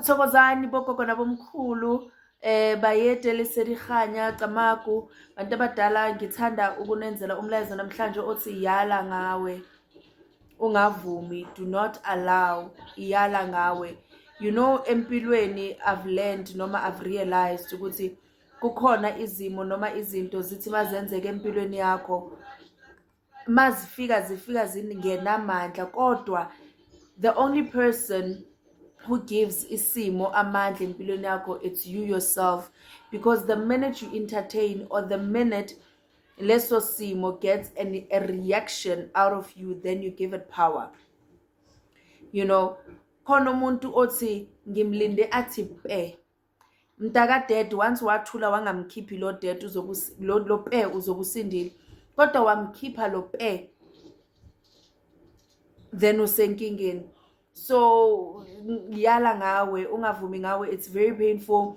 thokozani bogogo nabomkhulu eh bayede leserihanya camagu bantu abadala ngithanda ukunenzela umlayezo namhlanje othi yala ngawe ungavumi do not allow iyala ngawe you know empilweni i've learned noma i've realized ukuthi kukhona izimo noma izinto zithi mazenzeke empilweni yakho mazifika zifika zingenamandla kodwa the only person who gives isimo amandla empilweni yakho it's you yourself because the minute you entertain or the minute leso simo gets an, a reaction out of you then you give it power you know khona umuntu othi ngimlinde athi pe mntaka dad once wathula wangamkhiphi lo dad lo pe uzokusindile kodwa wamkhipha lo pe then usenkingeni so yala ngawe ungavumi ngawe it's very painful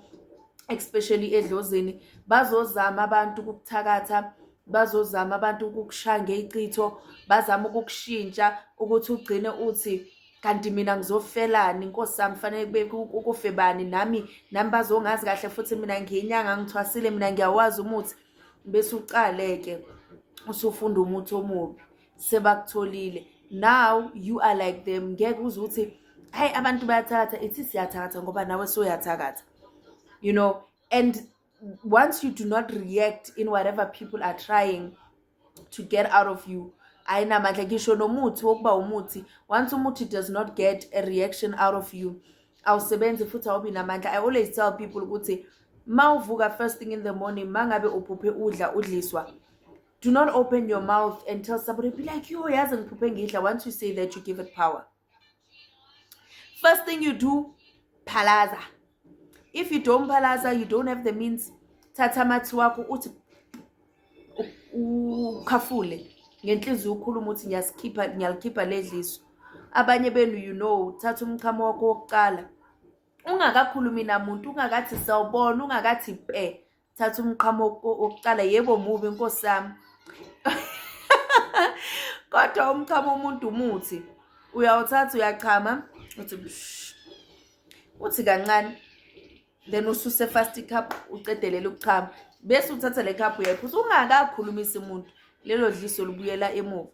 especially edlozini bazozama abantu ukukuthakatha bazozama abantu ukukushaya ngeyicitho bazama ukukushintsha ukuthi ugcine uthi kanti mina ngizofelani inkosi yami fanele kube kufe bani nami nami bazongazi kahle futhi mina ngiyinyanga ngithwasile mina ngiyawazi umuthi bese uqaleke usufunda umuthi omubi sebakutholile now you are like them ngeke uze ukuthi hayi abantu bayathakatha ithi siyathakatha ngoba nawe soyathakatha you know and once you do not react in whatever people are trying to get out of you ayinamandla ngisho nomuthi wokuba umuthi once umuthi does not get a reaction out of you awusebenzi futhi awubi namandla i always tell people ukuthi ma uvuka first thing in the morning ma ngabe uphuphe udla udliswa do not open your mouth and tell somebody be like yo yazi ngiphuphe ngidla once you say that you give it power first thing you do phalaza if you don't phalaza you don't have the means thatha amathi wakho uthi ukhafule ngenhliziyo ukhuluma ukuthi ngiyasikhipha ngiyalikhipha ledliso abanye benu you know thatha umchamo wakho wokuqala ungakakhulumi namuntu ungakathi sawubona ungakathi pe thatha umqhamo wokuqala yebo mubi nkosi yami kodwa umchamo umuntu umuthi uyawuthatha uyachama uthi uthi kancane then ususe fast cup ucedelela ukuchama bese uthatha le cup uyayiphuza ungakakhulumisi umuntu lelo dliso libuyela emuva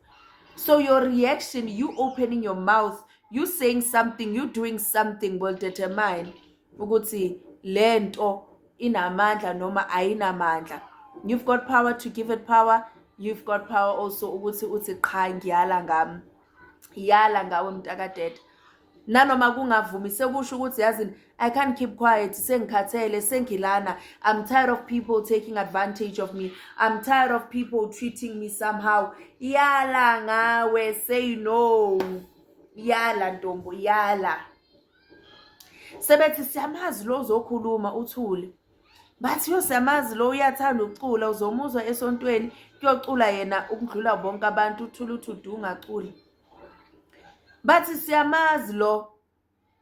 so your reaction you opening your mouth you saying something you doing something will determine ukuthi lento inamandla noma ayinamandla you've got power to give it power you've got power also ukuthi uthi qha ngiyala ngami yala ngawe mntakadede nanoma kungavumi sekusho ukuthi yazini i can't keep quiet sengikhathele sengilana i'm tired of people taking advantage of me i'm tired of people treating me somehow yala ngawe say no yala ntombo yala sebethi siyamazi lo uzokhuluma uthule bathi yo siyamazi lo uyathanda ukucula uzomuzwa esontweni kuyocula yena ukudlula bonke abantu uthule uthi udungaculi bathi siyamazi lo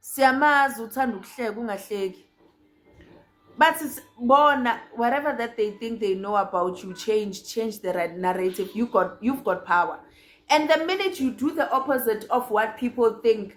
siyamazi uthanda ukuhleka ungahleki bathi bona whatever that they think they know about you change change the right narrative you got, you've got power and the minute you do the opposite of what people think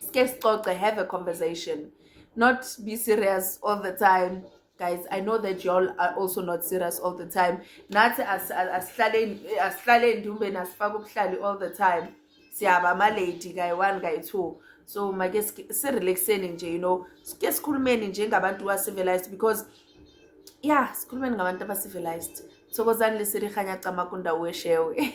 sike sicoce have a conversation not be serious all the time guys i know that y'all are also not serious all the time nathi asihlaleni ndumbeni asifake ubuhlali all the time siyaba amalady kayi one kayi two so make sirelaxeni nje you know sike sikhulumeni njengabantu ba-civilized because ya yeah, sikhulumeni ngabantu aba-civilized thokozani lesirihanya cama kundawo weshewe